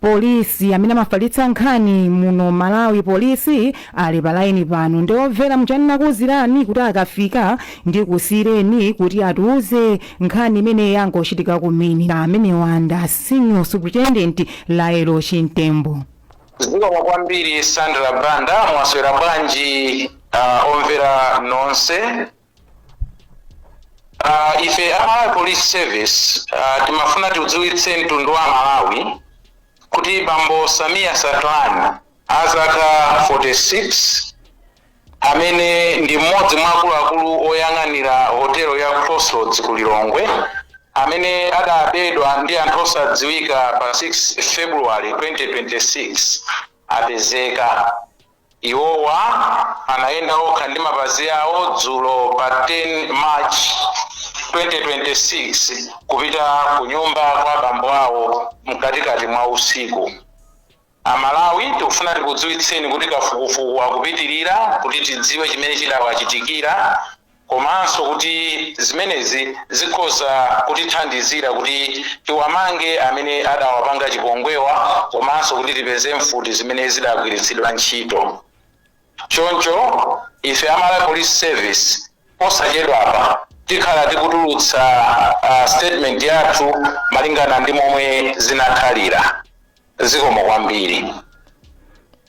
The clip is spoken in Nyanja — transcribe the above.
Police amene amafalitsa nkhani muno Malawi police ali pa line pano ndiye omvera m'chanena ndakuuzirani kuti akafika ndikusiyireni kuti atiuze nkhani imene yangochitika kumene na ameneyu ndi a senior superintendent Lael Chimtembo zikomo kwambiri Sandra Banda mwaswera bwanji uh, omvera nonse Uh, ife a Malawi Police Service uh, timafuna tiudziwitse mtundu wa Malawi kuti bambo Sameer Sacranie azaka 46 amene ndi mmodzi mwa akuluakulu oyang'anira hotelo ya Crossroads ku Lilongwe amene adabedwa ndi anthu osadziwika pa 6 February 2026 apezeka Iwowa anayenda okha ndi mapazi awo dzulo pa 10 March 2026 kupita kunyumba kwa bambo awo mkatikati mwa usiku. A Malawi tikufuna tikudziwitseni kuti kafukufuku akupitirira kuti tidziwe chimene chidawachitikira. komanso kuti zimenezi zikhoza kutithandizira kuti tiwamange amene adawapanga chipongwewa komanso kuti tipeze mfuti zimene zidagwiritsidwa ntchito. Choncho, ife a Malawi Police Service posachedwapa tikhala tikutulutsa uh, statement yathu malingana ndi momwe zinakhalira. Zikomo kwambiri.